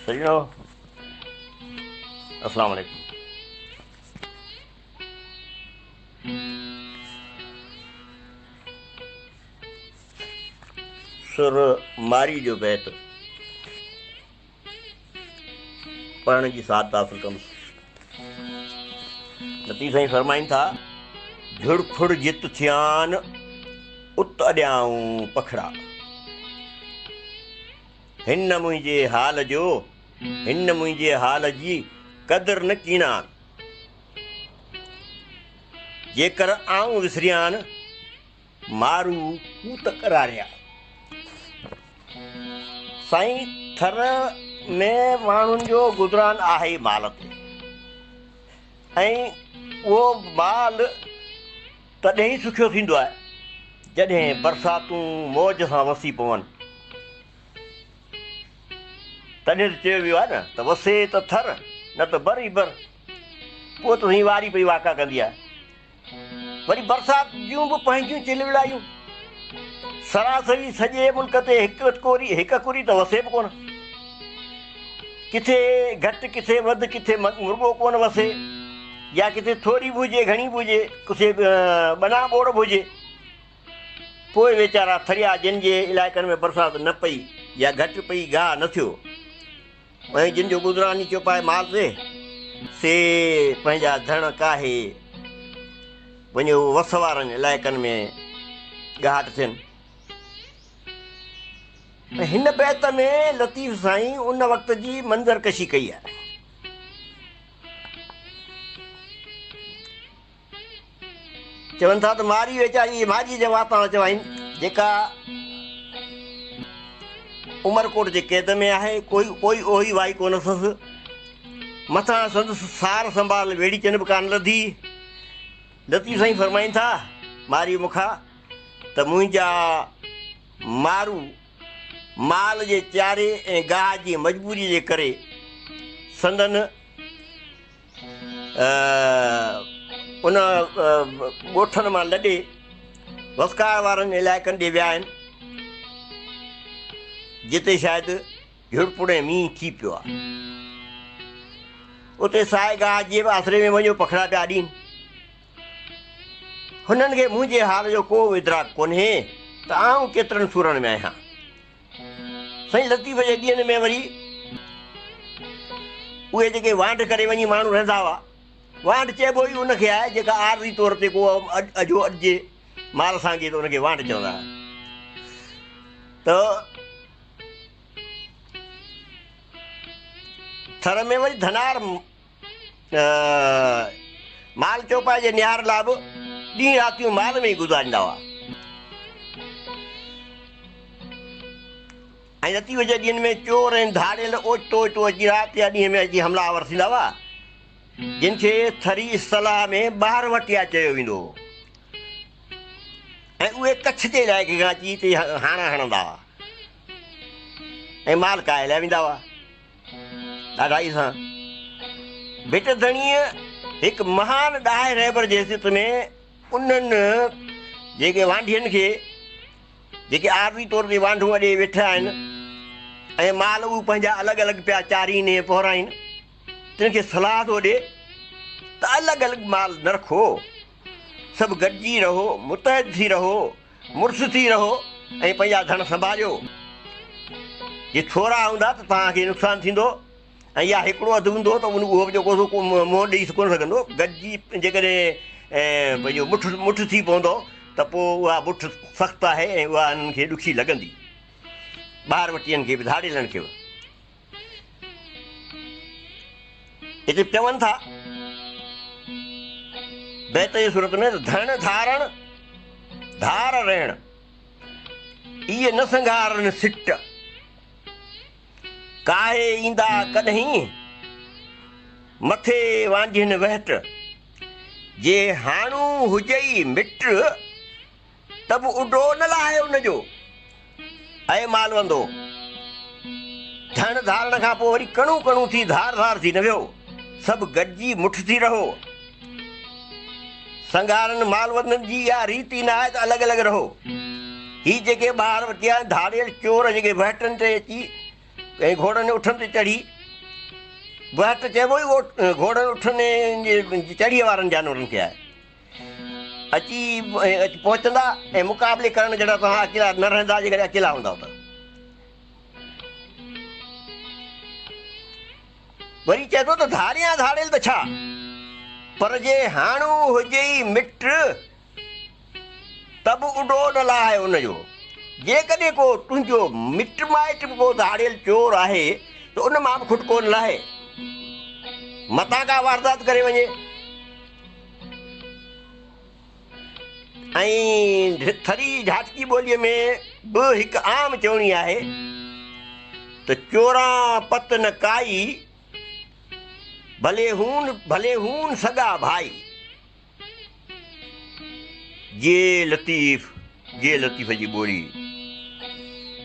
سڄڻو اسلام عليڪم. سر ماري جو بيت پڙهڻ جي سعادت حاصل ڪندس. لطيف سائين فرمائين ٿا، جھڙ ڦڙ جت ٿيان، ات اڏيائون پکڙا. هن نه منهنجي حال جو، هن نه منهنجي حال جي، قدر نه ڪينان. جيڪر آئون وسريان. مارو ڪوت ڪراڙيا سائين ٿر ۾ ماڻهن جو گذران آهي ئي مال تي ۽ اهو مال تڏهن ئي سکيو ٿيندو آهي جڏهن برساتون موج سان وسي پون تڏهن ته چيو ويو آهي نه ته وسي ته ٿر نه ته بر ئي بر پوء ته سائين واري پئي واڪا ڪندي آهي وري برسات جون به پنهنجيون چلبلايون. سراسري سڄي ملڪ تي هڪ اڪوري ته وسي به ڪونه. ڪٿي گهٽ ڪٿي وڌ ڪٿي مرڳو ڪونه وسي يا ڪٿي ٿوري به هجي گهڻي به هجي ڪٿي ٻنا ٻوڙ به هجي. پوء ويچارا ٿريا جن جي علائقن ۾ برسات نه پئي يا گهٽ پئي گاهه نه ٿيو. ۽ جن جو گذران ئي چوپائي مال ري، سي پنهنجا ڌڻ ڪاهي، وڃيو وس وارن علائقن ۾ ڳاهٽ ٿين. هن بيت ۾ لطيف سائين ان وقت جي منظر ڪشي ڪئي آهي. چون ٿا ته مارئي ويچاري جي ڀاڄي جا واتان چوائين جيڪا عمرڪوٽ جي قيد ۾ آهي ڪوئي پوئي اوهي وائي ڪو نه سس مٿان سندس سار سنڀال ويڙهي چن به ڪان لڌي لطيف سائين فرمائين ٿا مارئي مکا ته منهنجا مارو مال جي چاري ۽ گاهه جي مجبوري جي ڪري سندن ان ڳوٺن مان لڏي وسڪار وارن علائقن ڏي ويا آهن جتي شايد جھڙپوڙي مينهن ٿي پيو آهي اتي سائي گاهه جي به آسري ۾ وڃو پکڙا پيا ڏين هنن کي منهنجي حال جو ڪو ادراڪ ڪونهي ته آئون ڪيترن سورن ۾ آهيان سائين لطيف جي ڏينهن ۾ وري اهي جيڪي وانڍ ڪري وڃي ماڻهو رهندا هئا، وانڍ چئبو ئي ان کي آهي جيڪا عارضي طور تي ڪو اجهو اڏجي مال سان اڳي ته ان کي وانڍ چوندا هئا ته ٿر ۾ وري ڌنار مال چوپائي جي نهار لاء به ڏينهن راتيون مال ۾ ئي گذاريندا هئا ۽ لطيف جي ڏينهن ۾ چور ۽ ڌاڙيل اوچتو اوچتو اچي رات يا ڏينهن ۾ اچي حملا آور ٿيندا هئا جن کي ٿري اصطلاح ۾ ٻاهر وٽيا چيو ويندو هو ۽ اهي ڪڇ جي علائقي کان اچي هتي هاڻا هڻندا هئا ۽ مال ڪاهي لهه ويندا هئا ڏاڍائي سان ڀٽ ڌڻيء هڪ مهان ڏاهي رهبر جي حيثيت ۾ انهن جيڪي وانڍين کي جيڪي عارضي طور تي وانڍون اڏي ويٺا آهن ۽ مال اهو پنهنجا الڳ الڳ پيا چارين ۽ پهرائين تن کي صلاح ٿو ڏي ته الڳ الڳ مال نه رکو سڀ گڏجي رهو، متحد ٿي رهو، مڙس ٿي رهو ۽ پنهنجا ڌڻ سنڀاليو. جي ٿورا هوندا ته توهان کي نقصان ٿيندو ۽ يا هڪڙو اڌ هوندو ته ان اهو به جيڪو سو ڪو منهن ڏئي ڪونه سگهندو. گڏجي جيڪڏهن پنهنجو مٺ مٺ ٿي پوندو ته پوء اها مٺ سخت آهي ۽ اها انهن کي ڏکي لڳندي. ٻاهر وٽيئن کي به ڌاڙيلن کي به. هتي چون ٿا بيت جي صورت ۾ ڌڻ ڌارڻ ڌار رهڻ اي نه سنگهارن سٽ ڪاهي ايندا ڪڏهين مٿي وانجهين وهٽ جي هاڻو هجئي مٽ ته به اڏو نه لاهي ان جو. اي مالوندو! ڌڻ ڌارڻ کان پوء وري ڪڻون ڪڻون ٿي ڌار ڌار ٿي نه ويهو. سڀ گڏجي مٺ ٿي رهو. سنگهارن مالوندن جي اها ريت ئي ناهي ته الڳ الڳ رهو. هي جيڪي ٻاهر وتيا آهن ڌاڙيل چور جيڪي بهٽن تي اچي ۽ گهوڙن اٺن تي چڙهي، بهٽ چئبو ئي گهوڙن اٺن جي چڙهيء وارن جانورن کي آهي. اچي پهچندا ۽ مقابلي ڪرڻ جڏهن توهان اڪيلا نه رهندا جيڪڏهن اڪيلا هوندا ته وري چئي ٿو ته ڌاريان ڌاڙيل ته ڇا پر جي هاڻو هجي ئي مٽ ته به اڏو نه لاهه ان جو جيڪڏهن ڪو تنهنجو مٽ مائٽ به ڪو ڌاڙيل چور آهي ته ان مان به کٽ ڪو نه لاهي متان ڪا واردات ڪري وڃي ۽ ٿري جھاٽڪي ٻوليء ۾ به هڪ عام چوڻي آهي ته چوران پت نه ڪائي، ڀلي هون ڀلي هون سڳا ڀائي. جي لطيف جي لطيف جي ٻولي.